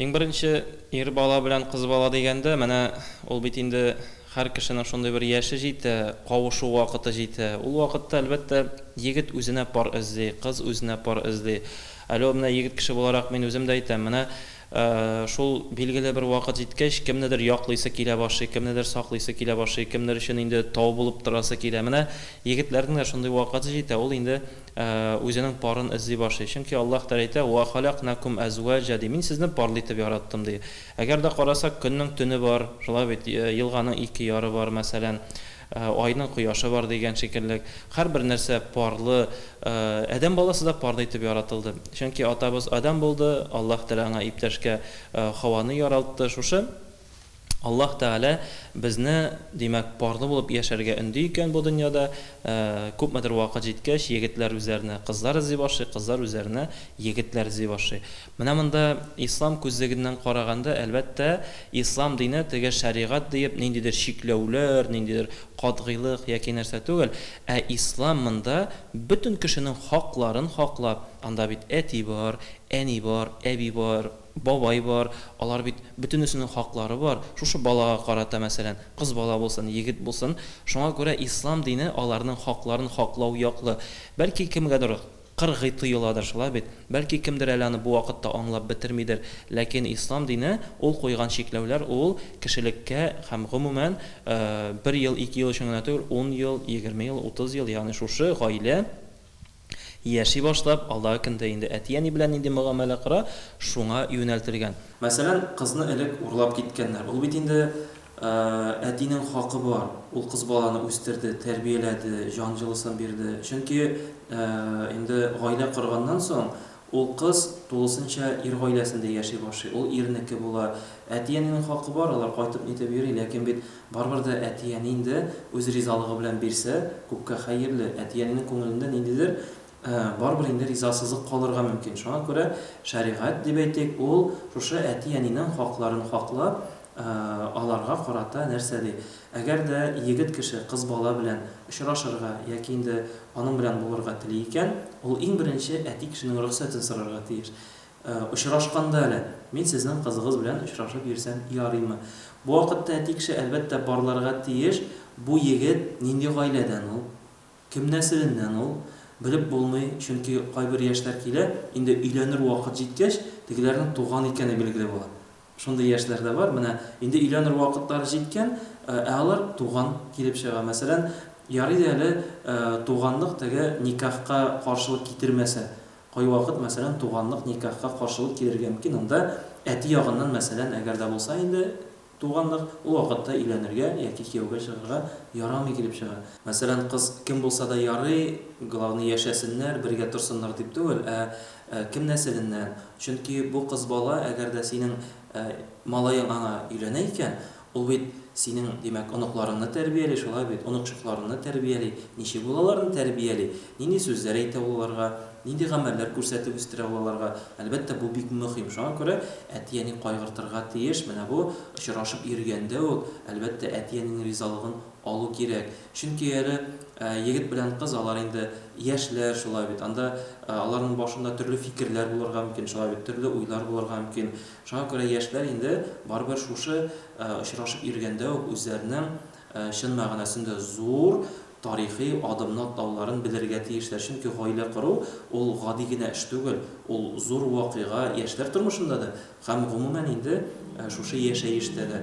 Иң беренче, ир бала белән кыз бала дигәндә, менә ул бит инде һәр кешенең шундый бер яше җитә, кавышу вакыты җитә. Ул вакытта, әлбәттә, егет үзенә пар эзли, кыз үзенә пар эзли. Әле ул менә егет кеше буларак мин үзем дә әйтәм, менә шул билгеле бер вакыт җиткәч, кемнедер яклыйсы килә башлый, кемнедер саклыйсы килә башлый, кемнер өчен инде тау булып торасы килә. Менә егетләрнең дә шундый вакыты җитә, ул инде, үзенең парын эзли башлый, чөнки Аллаһ Тәгалә әйтә, Уә халәкнәкүм әзуәҗә, ди, Мин сезне парлы итеп яраттым, ди. Әгәр дә карасак, көннең төне бар, шулай бит, елганың ике яры бар, мәсәлән, айның кояшы бар дигән шикелле, һәрбер нәрсә парлы, адәм баласы да парлы итеп яратылды, чөнки атабыз Адәм булды, Аллаһ Тәгалә аңа иптәшкә Хаваны яралтты, шушы. Аллаһ Тәгалә безне, димәк, парлы булып яшәргә өнди икән бу дөньяда. Күпмедер вакыт җиткәч, егетләр үзләренә кызлар эзли башлый, кызлар үзләренә егетләр эзли башлый. Менә монда Ислам күзлегеннән караганда, әлбәттә, Ислам дине теге шәригать диеп ниндидер чикләүләр, ниндидер катгыйлык яки нәрсә түгел, ә Ислам монда бөтен кешенең хакларын хаклап, анда бит әти бар, әни бар, әби бар, Бабай бар, алар бит, бөтенесенең хаклары бар, шушы балага карата, мәсәлән, кыз бала булсын, егет булсын, шуңа күрә ислам дине аларның хакларын хаклау яклы. Бәлки кемгәдер кыргый тоеладыр, шулай бит? Бәлки кемдер әле аны бу вакытта аңлап бетермидер, ләкин ислам дине, ул куйган чикләүләр, ул кешелеккә һәм гомумән, бер ел, ике ел өчен генә түгел, ун ел, егерме ел, утыз ел, ягъни шушы гаилә, Яши башлап, алдагы көндә инде әти-әни белән нинди мөгамәлә кора, шуңа юнәлтелгән. Мәсәлән, кызны элек урлап киткәннәр. Ул бит инде әтинең хакы бар. Ул кыз баланы үстерде, тәрбияләде, җан җылысын бирде. Чөнки инде гаилә корганнан соң, ул кыз тулысынча ир гаиләсендә яши башлый, ул ирнеке була. Әти-әнинең хакы бар, алар кайтып-нитеп йөри, ләкин бит Барыбер дә әти-әни инде үз ризалыгы белән бирсә, күпкә хәерле. Әти-әнинең күңелендә ниндидер барыбер инде ризасызлык калырга мөмкин. Шуңа күрә шәригать, дип әйтик, ул шушы әти-әнинең хакларын хаклап, аларга карата нәрсә ди? Әгәр дә егет кеше кыз бала белән очрашырга яки инде аның белән булырга тели икән, ул иң беренче әти кешенең рөхсәтен сорарга тиеш. Очрашканда әле, мин сезнең кызыгыз белән очрашып йөрсәм ярыймы? Бу вакытта әти кеше, әлбәттә, барларга тиеш. Бу егет нинди гаиләдән ул? Кем нәселеннән ул? Белеп булмый, чөнки кайбер яшьләр килә, инде өйләнер вакыт җиткәч, тегеләрнең туган икәне билгеле була. Шундый яшьләр дә бар. Менә инде өйләнер вакытлары җиткән, ә алар туган килеп чыга. Мәсәлән, ярый да әле туганлык теге никахка каршылык китермәсә. Кайвакыт, мәсәлән, туганлык никахка каршылык килергә мөмкин, анда әти ягыннан, мәсәлән, әгәр дә булса инде туганлык, ул вакытта өйләнергә яки кияүгә чыгарга ярамый килеп чыга. Мәсәлән, кыз кем булса да ярый, главный яшәсеннәр, бергә торсыннар дип түгел, ә кем нәселеннән, чөнки бу кыз бала, әгәр дә синең малаең аңа өйләнә икән, Ул бит синең, димәк, оныкларыңны тәрбияли, шулай бит? Оныкчыкларыңны тәрбияли. Ничек ул аларны тәрбияли? Нинди сүзләр әйтә ул аларга? Нинди гамәлләр күрсәтеп үстерә ул аларга? Әлбәттә, бу бик мөһим. Шуңа күрә әти-әни кайгыртырга тиеш. Менә бу очрашып йөргәндә үк, әлбәттә, әти-әнинең ризалыгын алу кирәк. Чөнки әле егет белән кыз, алар инде яшьләр, шулай бит? Анда аларның башында төрле фикерләр булырга мөмкин, шулай бит? Төрле уйлар булырга мөмкин. Шуңа күрә яшьләр инде барыбер шушы очрашып йөргәндә үк үзләренең чын мәгънәсендә зур тарихи адымны атлауларын белергә тиешләр, чөнки гаилә кору ул гади генә эш түгел, ул зур вакыйга яшьләр тормышында да һәм гомумән инде шушы яшәештә дә.